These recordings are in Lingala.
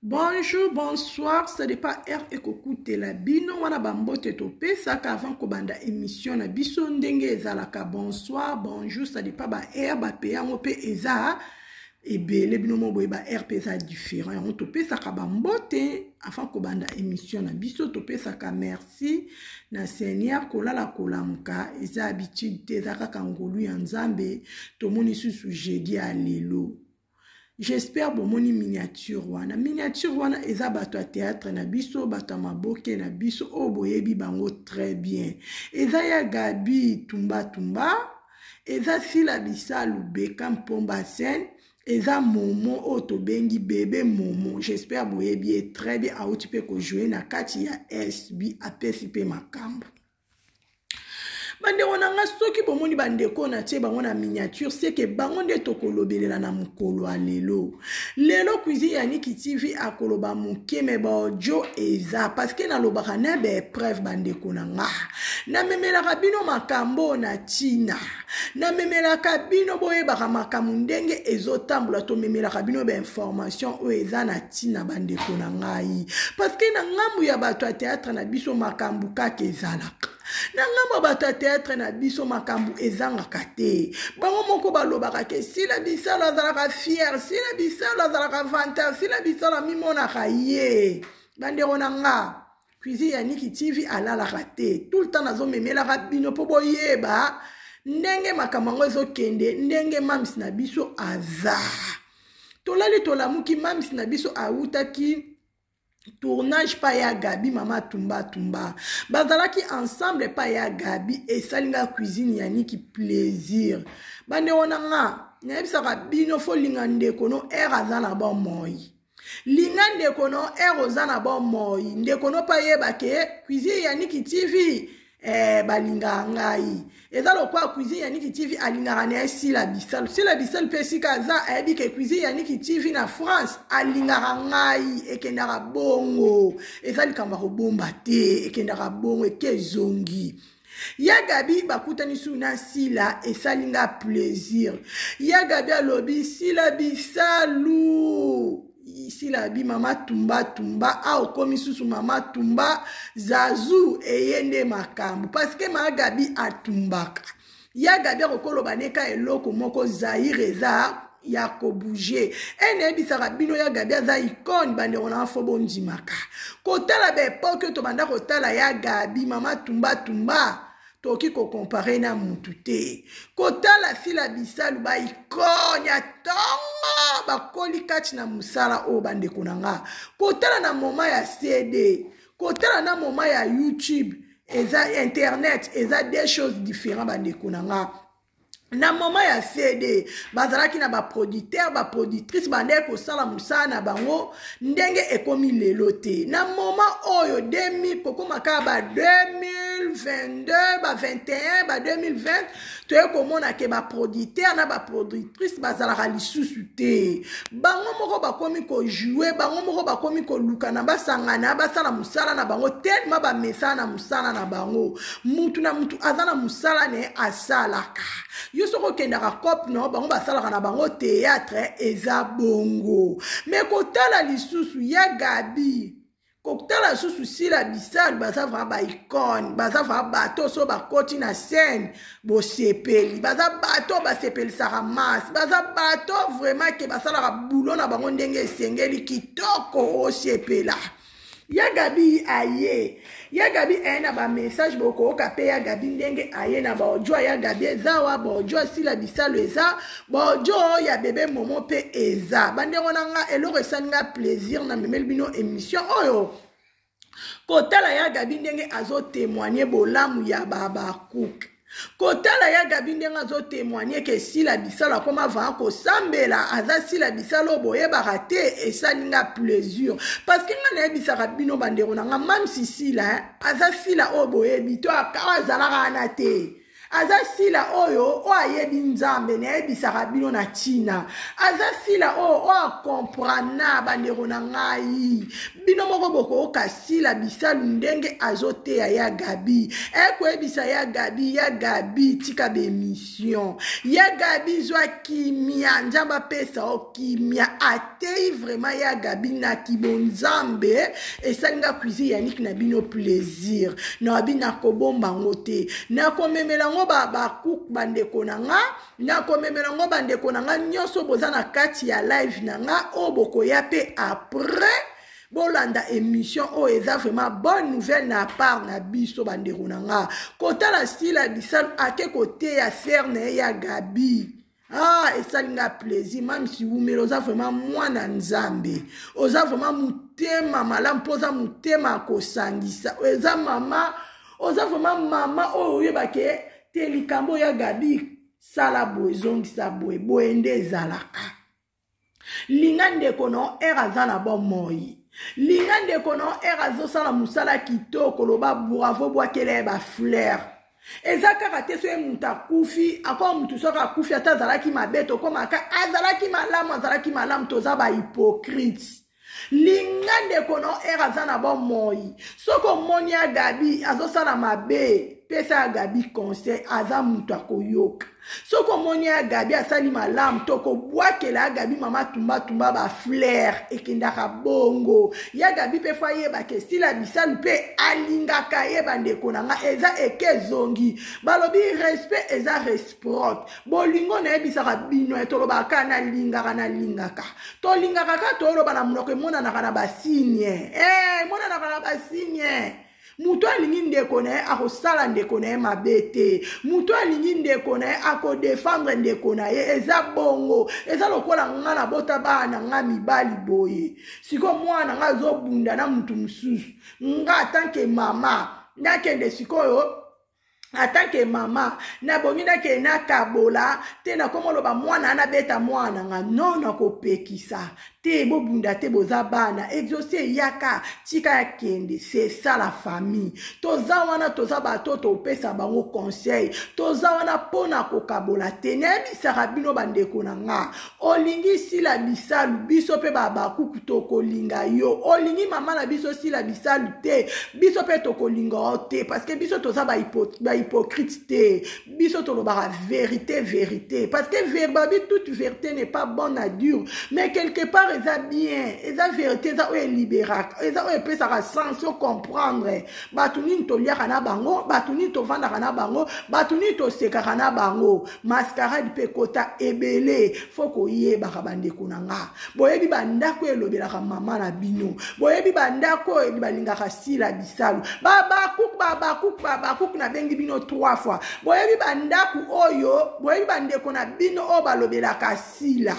Bonjour, bonsoir, ça dépend heure ekokutela bino wana bambote topesaka avant kobanda émission na biso ndenge ezalaka bonsoir, bonjour, ça dépend ba heure bape yango mpe eza ebele bino moko boye ba heure mpe eza différent yango topesaka bambote avant kobanda émission na biso topesaka merci merci na seigneur kolala kolamuka eza habitude te eza kaka ngolu ya nzambe tomoni susu jeudi ya lelo j'espère bomoni miniature wana miniature wana eza bato ya théâtre na biso bato ya maboke na biso oyo boyebi bango très bien eza ya gabi tumbatumba eza sila bisalu beka mpomba sene eza momo oyo tobengi bebe momo j'espère boyebi ye très bien auti mpe kojoue na kati ya sb apesi mpe makambo bandeko na ngai soki bomoni bandeko oyo natie bango na miniature seke bango nde tokolobelela na mokolo ya lelo lelo cuisine ya niki tv akoloba moke me baodio eza parceke nalobaka na baepreuve bandeko na ngai namemelaka bino makambo oyo na ntina namemelaka bino boyebaka makambo ndenge ezotambola tomemelaka bino bainformation oyo eza na ntina bandeko na ngai parceke na ngambo ya bato ya teatre na biso makambo kaka ezalaka na ngambo ya bato ya teatre na biso makambo ezangaka te bango moko balobaka ke sila bisalo azalaka fiere sila bisalo azalaka vantar sila bisalo amimonaka ye bandeko na ngai cuisine ya niki tv alalaka te tout le temps nazomemelaka bino mpo boyeba ndenge makambo yango ezokende ndenge mams na biso aza tolali tolamuki mams na biso awutaki tournage pa ya gabi mama tumba tumba bazalaki ensemble pa ya gabi esali nga cuisine ya niki plaisir bande wana nga nayebisaka bino folinga ndeko no ere aza na bomoi linga ndeko no ere oza na bomoi ndeko no mpe ayeba ke cuisine ya niki tv eh, balingaka ngai eza lokola cuisine ya niki tv alingaka na ye sila bisal sila bisal mpe esika aza ayebi ke cuisine ya niki tv na france alingaka ngai ekendaka bongo eza likambo ya kobomba te ekendaka bongo eke ezongi ya gabi bakutani su na sila esali nga plaisir ya gabi alobi sila bisalu sila abi mama tumba tumba a okomi susu mama tumba zazu eye nde makambo parceke maa gabi atumbaka ya gabi akokoloba neka eloko moko zaire eza ya kobouge e nayebisaka bino ya gabi aza icone bandeko na fo bondimaka kotala baepoke oyo tobanda kotala ya gabi mama tumbatumba tokoki kokompare na mutu te kotala sila bisalu baikone ya ntongo bakoli kati na mosala oyo bandeko na nga kotala na moma ya cd kotala na moma ya youtube eza internet eza deux choses différent bandeko na nga na moment ya cd bazalaki na baproducteur baproductrice bandeki kosala mosala na bango ndenge ekomi lelo te na moment oyo 2000 kokoma kaka ba 2022 ba 21 ba 2020 toye komona ke baproducteur na baproductrice bazalaka lisusu te bango moko bakomi kojoue bango moko bakomi kolukana basangana basala mosala na bango telema bamesana na mosala na bango mutu na mutu aza na mosala na ye asalaka yo soki okendaka cope no bango basalaka na bango théâtre eza bongo me kotala lisusu ya gabi kotala lisusu sila bisal baza vraimen baicone baza vraimen bato so bakoti na scène bosepeli baza bato basepelisaka masse baza bato vraimen ke basalaka bulo na bango ndenge esengeli kitoko osepela ya gabi aye ya gabi aye na bamessage bokooka mpe ya gabi ndenge aye na baodio ya gabi eza wa baodio asila bisalo eza baodio ya bebe momo mpe eza bandeko na nga eloko esali nga plaisir na memeli bino émission oyo kotala ya gabi ndenge azotemoigne bolamu ya babakuke kotala ya gabi ndenge azotemoigne ke sila bisalo akoma vaa kosambela aza sila bisalo boyebaka te esali nga plaisir parceke nga nayebisaka bino bandeko na nga mamsi sila eh, aza sila oyo boyebi to akawa azalaka wana te aza sila oyo oyo ayebi nzambe nayebisaka bino na ntina aza sila oyo oyo akomprana bandeko na ngai bino moko bokoyoka sila bisalu ndenge azoteya ya gabi ekoyebisa ya gabi ya gabi tika bemission ya gabi zwa kimia nzambe apesa o kimia ateyi vraiment ya gabi na kibonzambe esalinga cuisine yaniki na bino plaisir na babi nakobomba yango te nakomemela yango babakuku bandeko na nga nakomemela yango bandeko na nga nyonso boza na kati ya live na nga oyo bokoya mpe après bolanda émission oyo oh, eza vraiment bonne nouvelle na part na biso bandeko na nga kotala sila bisalu ake koteya ser na ye ya gabi ah esali nga plaisir mame siwumela oza vraiment mwana nzambe oza vraiment motema malamu mpo oza motema ya kosangisa eza mama oza vraiment mama oyo oyebake te likambo ya gabi sala boye zongisa boye boye nde ezalaka linga ndeko na ere aza na bomoi linga ndeko na ere azosala mosala kitoko loba bravo bwakela ye bafleur eza kaka te soki moto akufi akoma moto soki akufi ata azalaki mabe tokomaka azalaki malamu azalaki malamu toza bahypocrite linga ndeko no ere aza na bomoi soki omoni ya gabi azosala mabe pesa ya gabi conseil aza moto akoyoka soki omoni ya gabi asali malamu tokobwakela ya gabi mama tumbatumba baflere ekendaka bongo ya gabi mpe fo ayebaka esila bisalu mpe alingaka ye bandeko na ngai eza eke ezongi balobi respect eza respect propre bolingo nayebisaka bino ya tolobaka kaka nalingaka nalingaka tolingaka kaka toloba na monoko emonanaka na basigne eh, emonanaka na basigne moto alingi ndeko na ye akosala ndeko na ye mabe te moto alingi ndeko na ye akodefendre ndeko na ye eza bongo eza lokola nga nabota bana na nga mibali boye sikoyo mwana na nga azobunda na moto mosusu nga atanke mama nakende sikoyo ata ke mama nabongi nakende nakabola te nakoma oloba mwana ana beta mwana nga no nakopekisa te bobunda te boza bana exauce eyaka tika ya kende se ça la famille toza wana toza bato oyo topesa bango conseil toza wana mpo na kokabola te nayebisaka bino bandeko na nga olingi sila bisalu biso mpe babakuku tokolinga yo olingi mama na biso sila bisalu te biso mpe tokolinga yo te parceke biso toza bahypocrite te biso tolobaka verité verité parceke verbabi toute verité n'est pas bonne à dire mais quelque part eza bien eza verité eza oyo eliberaka eza oyo epesaka sens ocomprendre bato nini toliaka na bango bato nini tofandaka na bango bato nini tosekaka na bango mascarade mpe ekota ebele fo koyebaka bandeko na nga boyebi bandako elobelaka mama na bino boyebi bandako oyo balingaka sila bisalu babakuk babakuk babakuk nabengi bino trois fois boyebi bandako oyo boyebi bandeko na bino oyo balobelaka sila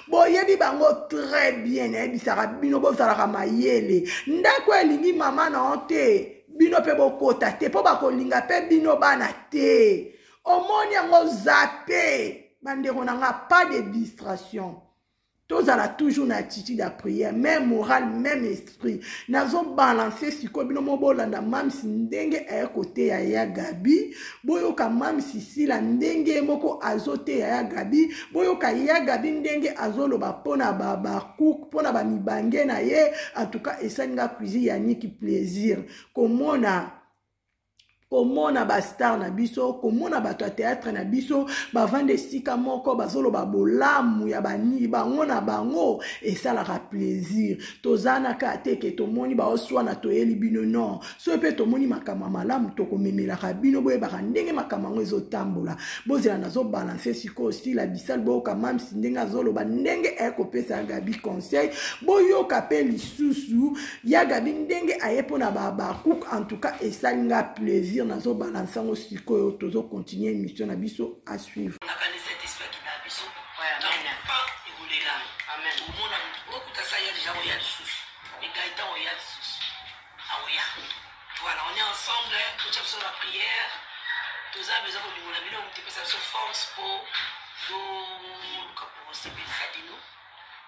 boyebi bango très bien nayebisaka bino bozalaka mayele ndako elingi mama na yo te bino mpe bokota te mpo bakolinga mpe bino bana te omoni yango zape bandeko na nga pas de distraction tozala toujours na attitude ya prière même morale même esprit nazobalanse sikoyo bino mo bolanda mamisi ndenge aye koteya ya gabi boyoka mamisi sila ndenge ye moko azoteya ya gabi boyoka ya gabi ndenge azoloba mpona babakouk mpona bamibange na ye antuka esali nga cuisine ya niki plaisir komona komona bastar na biso komona bato ya teatre na biso bavanda esika moko bazoloba bolamu ya bani bango na bango esalaka plaisir toza na kaka te ke tomoni baoswana toyeli bino non soki mpe tomoni makambo ya malamu tokomemelaka bino boyebaka ndenge makambo yango ezotambola bozela nazobalanse sikoyo stila bisal boyoka mamsi ndenge azoloba ndenge ekopesa gabi conseil boyoka mpe lisusu ya gabi ndenge aye mpo na bahabakouk en tout cas esali nga plaisir nazobalansa yango sikoyo tozocontinue émission na biso a suivre Voilà, on est ensemble, tout ça sur la prière. Tout ça, nous avons du monde, nous avons des forces pour nous, pour nous, pour nous,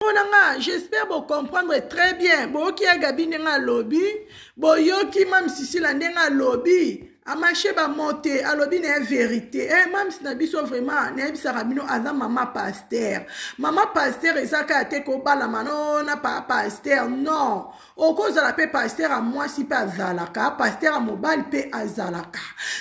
mpona nga j'espère bocomprendre très bien boyoki ya gabi ndenge alobi boyoki ma misisila ndenge alobi amashe bamote alobi na ye verité e eh, mams na biso vraiment nayebisaka bino aza mama paster mama paster eza kaka te kobalama no na paa paster non okozala mpe paster ya mwasi mpe azalaka paster ya mobali mpe azalaka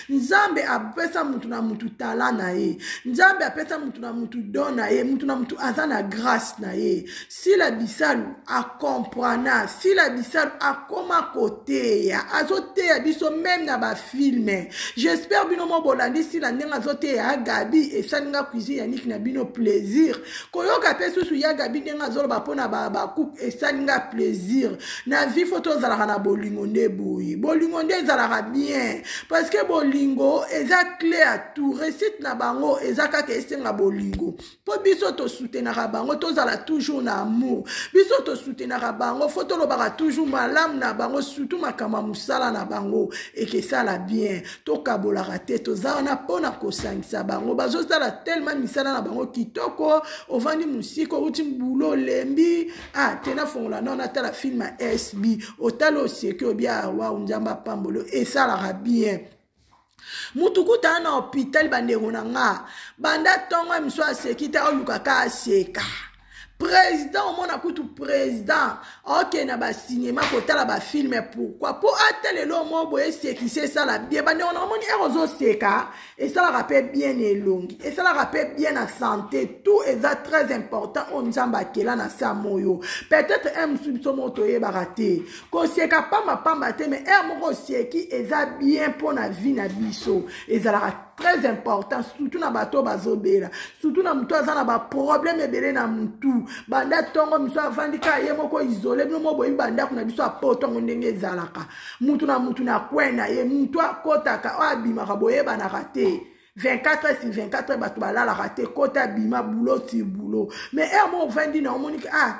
nzambe apesa motu na motu tala na ye nzambe apesa motu na motu don na ye motu na motu aza na grâce na ye sila bisalu acomprana sila bisalu akoma koteya azoteya biso meme na bafilme j'espère bino mo bolandi sila ndenge azoteya ya gabi esali nga cuisine ya niki na bino plaisir koyoka mpe susu ya gabi ndenge azoloba mpo na bakupe esali nga plaisir na vie fo tozalaka na bolingo nde boye bolingo nde ezalaka bien parce que bolingo eza cle ya tout réussite na bango eza kaka esenga bolingo mpo biso tosutenaka bango tozala toujours na amour biso tosutenaka bango fo tolobaka toujours malamu na bango surtout makambo ya mosala na bango ekesala bien tokabolaka te toza wana mpo na kosangisa bango bazosala telema misala na bango kitoko ovandi mosika outi bulo olembi ah te nafongola nao natala filme ya sb otali oseki obia ah, wau nzambe apambolo esalaka bien mutu kutaa na hôpital bandeko na nga banda ntongo ya miso aseki te oluka ka aseka président omona kutu président okende na basinema kotala bafilme pourkui mpo ata lelo mo boye esekisi esala bien bandeko na omoni ere ozoseka esalaka mpe bien na elongi esalaka mpe bien na santé tout eza très important oyo nzambe akela na saa moyo peut-être un mosusu biso moko toyebaka te koseka pambapamba te mais heure moko oseki eza bien mpo na vie na biso ezalaka très important surtout na bato oyo bazobela surtout na motu aza na baproblème ebele na motu banda ntongo miso avandi kaka ye moko isole bino moko boyebi bandako na biso apo ntongo ndenge ezalaka motu na motu na kwen na ye motu akotaka oyo abimaka boyebanaka te 24 heures sur 24 heures bato balalaka te kota bima boulot sur boulot mais heure moko ovandi na omoniki ah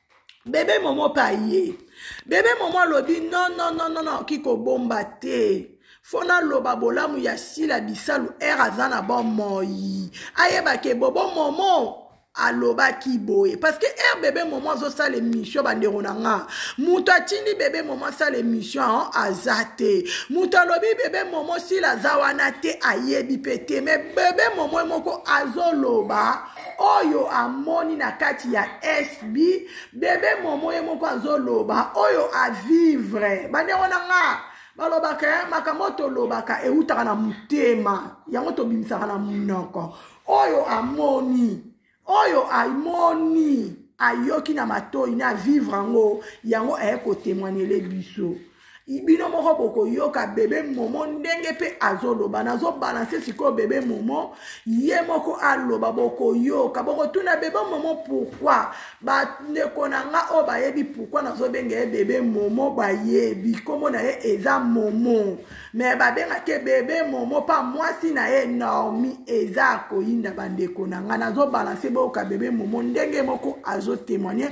bebe momo mpe aye bebe momo alobi nonnnnn oki kobomba te fo naloba bolamu ya sila bisalu ere aza na bomoi ayebaka ebobo momo alobaki boye parce que r bebe momo azosala émission bandeko na nga moto atindi bebe momo asala émission an aza te moto alobi bebe momo sila aza wana te ayebi mpe te mais bebe momo moko azoloba oyo amoni na kati ya sb bebe momo ye moko azoloba oyo avivre bandeko na nga balobaka eh, makambo oyo tolobaka eutaka na motema yango tobimisaka na monoko oyo amoni oyo amoni ayoki na matoi na vivre yango yango aye kotemwanele biso bino moko bokoyoka bebe momo ndenge mpe azoloba nazobalanse sikoyo bebe momo ye moko aloba bokoyoka bokotuna bebe momo pourkui bandeko na nga oyo bayebi pourkui nazobenga ye bebe momo bayebi nkombo na ye eza momo me babengaki ye bebe momo mpa mwasi na ye normi eza koyinda bandeko na nga nazobalanse boyoka bebe momo ndenge moko azotemoigne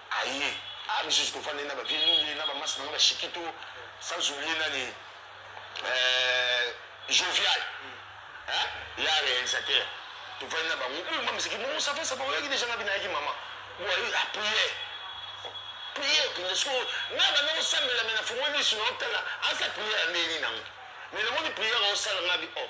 aye a biso sikofanda na ba vieux lule na ba masa na nga ba shikito sans oublier nani euh, jovial hein ya réalisateur tofandi na bango oyo ma miziki bongo safa safa oyaki deja nga binayaki mama boye apriere priere mpenza siko nga banda kosambela me na fongo lisu na otala asa priere andeli nango me namoni priere osala nga bi o oh.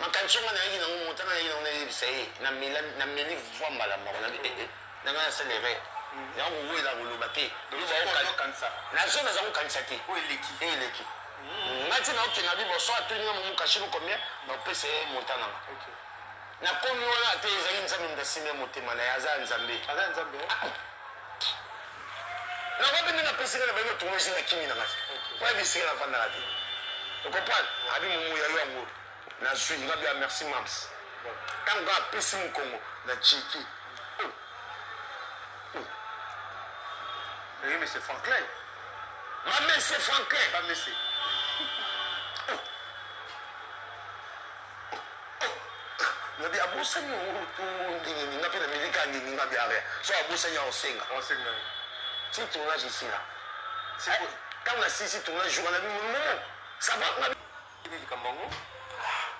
makanisi yango nayaki nango motana nayaki nango nayebisa ye nameli voi mbala moko nanga eh, eh, nasala erreur yango kowela koloba te nazo naza kokanisa te eleki hmm. ngai ti naokenda liboso atoninga momokashino combien bapesa ye monta nanga nakomi wana te ezali nzambe moto asimbi ya motema na ye aza ya nzambe eh? ah, nakoki nde napesi ngai na bango tuma esi na kimi na ngai oyebi esika nafandaka te okompane abi momo ya yo yango nazwi nga bia merci mams ntango kaka apesi mokongo na chiki Oui, mais c'est Franklin. Ma mère, c'est Franklin. Ma mère, c'est. nabi abosani ndinini nga mpe na milika ndini nga biare so abosani ya osenga ti tournage esila ntango nasilisi tournage jour nabi monomo ça va nga likambo yango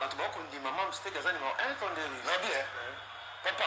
bato bakondima mamsteke aza nima un tondeli nabi papa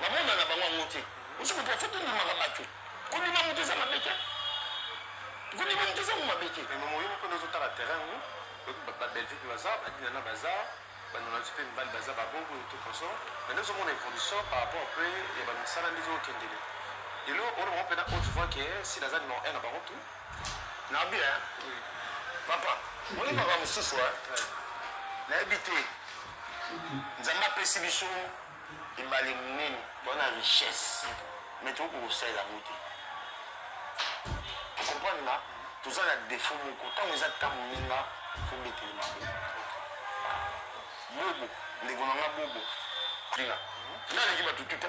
bamona na bango yango te osi moto afo kondimaka bato kondima moto eza mabe te kondima moto eza ngo mabe te moyo moko nde ozotala terrain ngo babelgique baza badinana baza banonalisi mpe mibali baza babongo tout consort mais nde ozomona évolution par rapport mpe ya bamisala nde ezokendele lelo oyo bango mpena oyo tuvoa ke sila aza numero 1 na bango tu na bien papa moni makambo mosusu nayebi te nzambe apesi biso ebale monene toza na richesse me tokoki kosalela yango te okomprendre nga toza na defaut moko ntango eza ntango ninga fobetele maboko bobo ndeko na nga bobo naleki bato tuta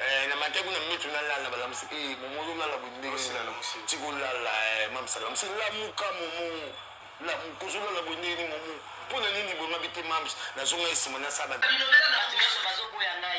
Eh, na mate kuna mitu na lala bala musi eh momo zo lala bonde sila na musi tiko lala eh mam sala musi la muka momo la muko zo lala bonde ni momo pona nini bo mabite mam na zo ngai sima na saba bilobela na bato nyonso bazoboya ngai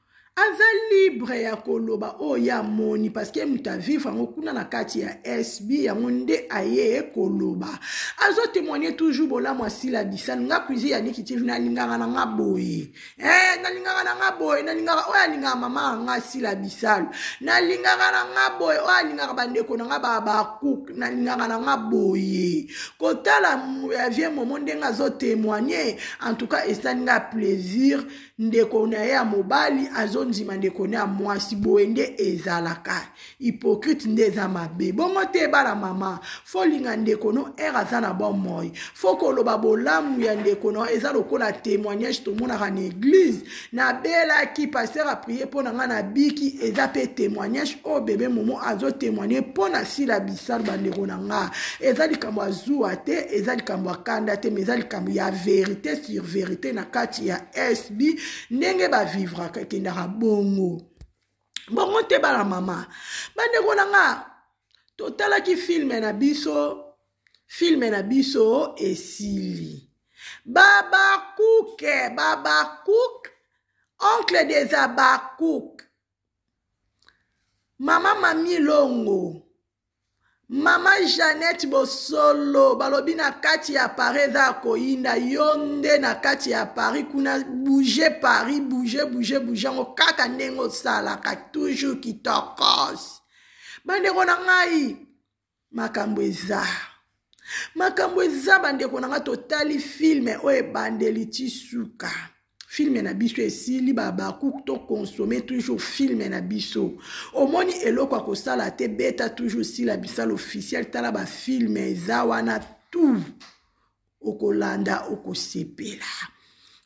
aza libre ya koloba oyo ye amoni parceke moto avivre yango kuna na kati ya sb yango nde aye koloba azotemoigne toujours bolamu asila disani nga cuisine ya nikitive nalingaka na nga boye e nalingaka na nga boye nalingaka oyo alingaka mama ya nga asila bisalu nalingaka na nga boye oyo alingaka bandeko na nga babakuk nalingaka na nga boye kotala ya vie momo ndenge azotemoigne en tout cas esali nga plaisir ndeko na ye ya mobali azondima ndeko na ya mwasi boye nde ezalaka hypocrite nde eza mabe bongo te bana mama folinga ndeko no ere aza na bomoi fo koloba bolamu ya ndeko no eza lokola témoignage tomonaka na eglize nabelaki paster aprie mpo na ngai nabiki eza mpe témoignage oyo bebe momo azotémoigne mpo na sila bisalu bandeko na nga eza likambo ya zuwa te eza likambo ya kanda te mais eza likambo ya verité sur verité na kati ya sb ndenge bavivraka ekendaka bongo bongo te bana mama bandeko na nga totalaki filme na biso filme na biso esili babakuke babakuke oncle des abakuke mama mami longo mama janete bosolo balobi na kati ya paris eza ya koyinda yo nde na kati ya paris kuna bouge paris bouge bouge bouge yango kaka ndenge osalaka toujours kitokos bandeko na ngai makambo eza makambo eza bandeko na nga totali filme oyo ebandeli ti suka filme na biso esili babakuk to consomme toujours filme na biso omoni eloko ya kosala te beta toujours sila bisal officiel tala bafilme eza wana tout okolanda okosepela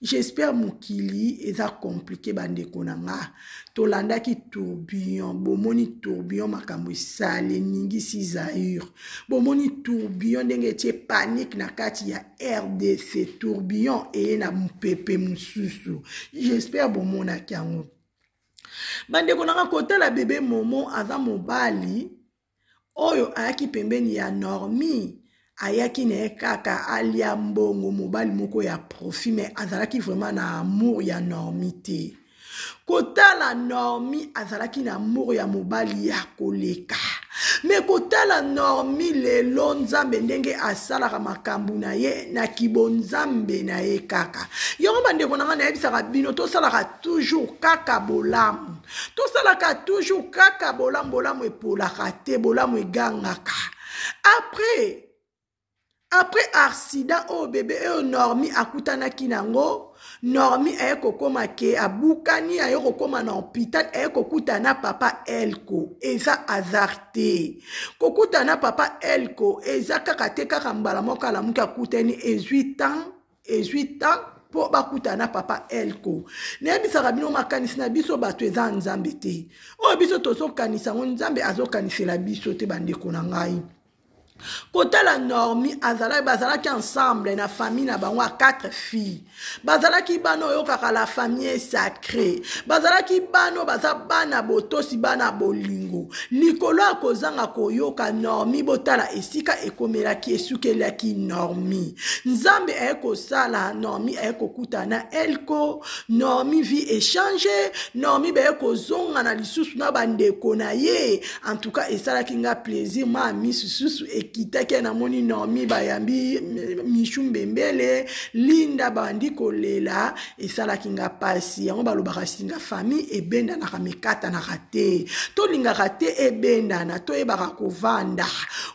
j'espère mokili eza komplike bandeko na nga tolandaki tourbillon bomoni tourbillon makambo esali eningisi zaire bomoni tourbillon ndenge etie panike na kati ya rdc tourbillon eye na mopepe mosusu j'espère bomonaki yango bandeko na nga kotala bebe momo aza mobali oyo ayaki pembeni ya normi ayaki na ye kaka alia mbongo mobali moko ya profit me azalaki vraiment na amour ya normi te kotala normi azalaki na amour ya mobali ya koleka me kotala normi lelo nzambe ndenge asalaka makambo na ye na kibonzambe na ye kaka yango bandeko na ngai nayebisaka bino tosalaka toujours kaka bolamu tosalaka toujours kaka bolamu bolamu epolaka te bolamu egangaka après après accident oyo oh, bebe oyo normi akutanaki nango normi aye kokoma ke abukani aye kokoma na hôpital aye kokutana na papa elko eza hasard te kokutana na papa elko eza kaka te kaka mbala moko alamuki akutani ezwi temps ezwi temps mpo bakutana na papa elko nayebisaka bino makanisi na biso bato eza nzambe te oyo biso tozokanisa yango nzambe azokanisela biso te bandeko na ngai kotala normi azalaki bazalaki ensemble na famille na bango ya quatre filles bazalaki bana oyokaka la famille sacré bazalaki bana oyo baza bana botosi bana bolingo likolo ya kozanga koyoka normi botala esika ekomelaki esukelaki normi nzambe aye kosala normi aye kokutana na elko normi vie echange normi baye kozongana lisusu na bandeko na ye en tout cas esalaki nga plaisir ma misu susu ekitaki namoni normi bayambi michu mbembele linda bandi kolela esalaki nga mpasi yango balobaka singa famille ebendanaka mikatanaka te tolingaka te ebendana toyebaka kovanda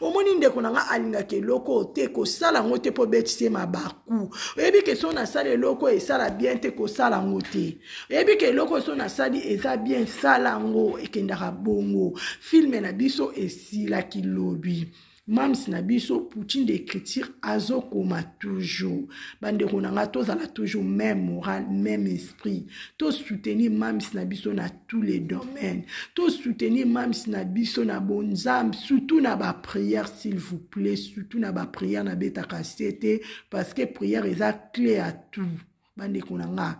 omoni ndeko na nga alingaka eloko oyo te kosala yango te mpo obetisi ye mabaku oyebi ke so nasali eloko oyo esala bien te kosala yango te oyebi ke eloko oyo so nasali eza bien sala yango ekendaka bongo filme na biso esilaki lobi mams na biso poutine de écriture azokoma toujours bandeko na ngai tozala toujours même moral même esprit tosoutenir mams na biso na tous les domaines tosoutenir mams na biso na bonzambe surtout na baprière s'il vous plaît surtout na baprière nabetaka se te parce que prière eza clé ya tout bandeko na ngai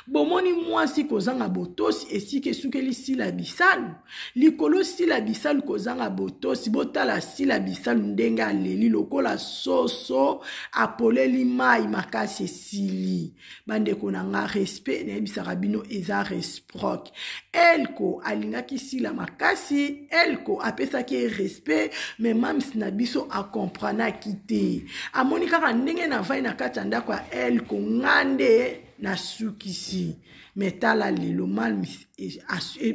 bomoni mwasi kozanga botosi esika esukeli sila bisalu likolo sila bisalu kozanga botosi botala sila bisalu ndenge aleli lokola soso apoleli mai makasi esili bandeko na nga respect nayebisaka bino eza resproc elko alingaki sila makasi elko apesaki ye respect me mams na biso akompranaki te amoni kaka ndenge navai na kati ya ndako ya elko nga nde nasukisi me tala lelo mams e, e,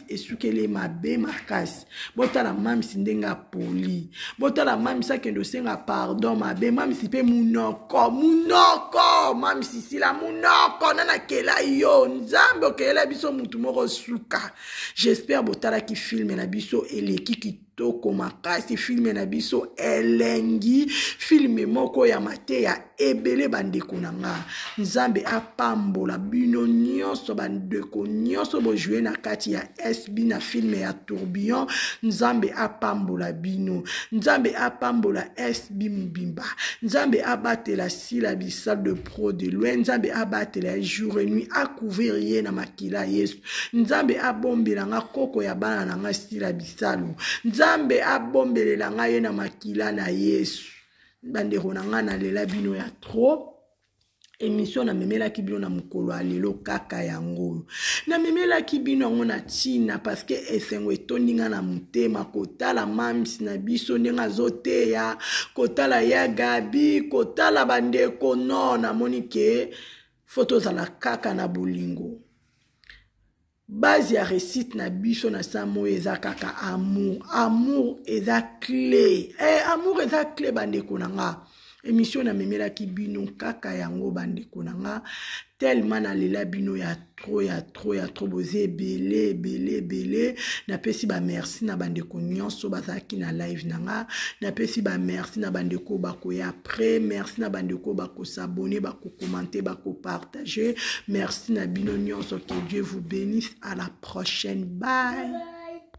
esukeli mabe makasi botala mamisi ndenge apoli botala mamisi akende osenga pardon mabe mamisi mpe munoko munoko mamisi sila munoko na nakela yo nzambe okelela biso mutu moko suka jespere botalaki filme na biso eleki kitoko kitoko makasi filme na biso elengi filme moko ya mateya ebele bandeko na nga nzambe apambola bino nyonso bandeko nyonso bojue na kati ya sb na filme ya tourbillon nzambe apambola bino nzambe apambola sb mobimba nzambe abatela sila bisal de pro de loin nzambe abatela ye jour et nuit akouvrir ye na makila yesu nzambe abombela nga koko ya bana na nga sila bisalu nzambe abombelela nga ye na makila na yesu bandeko na ngai nalela bino ya trop emission namemelaki bino na mokolo ya lelo kaka yango oyo namemelaki bino yango na ntina parceke esengo etondi ngai na motema kotala mams na biso ndenge azoteya kotala ya gabi kotala bandeko no namoni ke fo tozala kaka na bolingo base ya réussite na biso na samo oyo eza kaka amour amour eza cle eh, amour eza cle bandeko na nga émission namemelaki bino kaka yango bandeko na nga tellement nalela bino ya trop ya trop ya trop boza ebele ebele ebele napesi bamerci na bandeko nyonso bazalaki na live na nga napesi bamerci na bandeko bakoya après merci na bandeko bakosabone bakokomante bakoparte partager merci na bino nyonso que dieu vous bénisse à la prochaine bye, bye.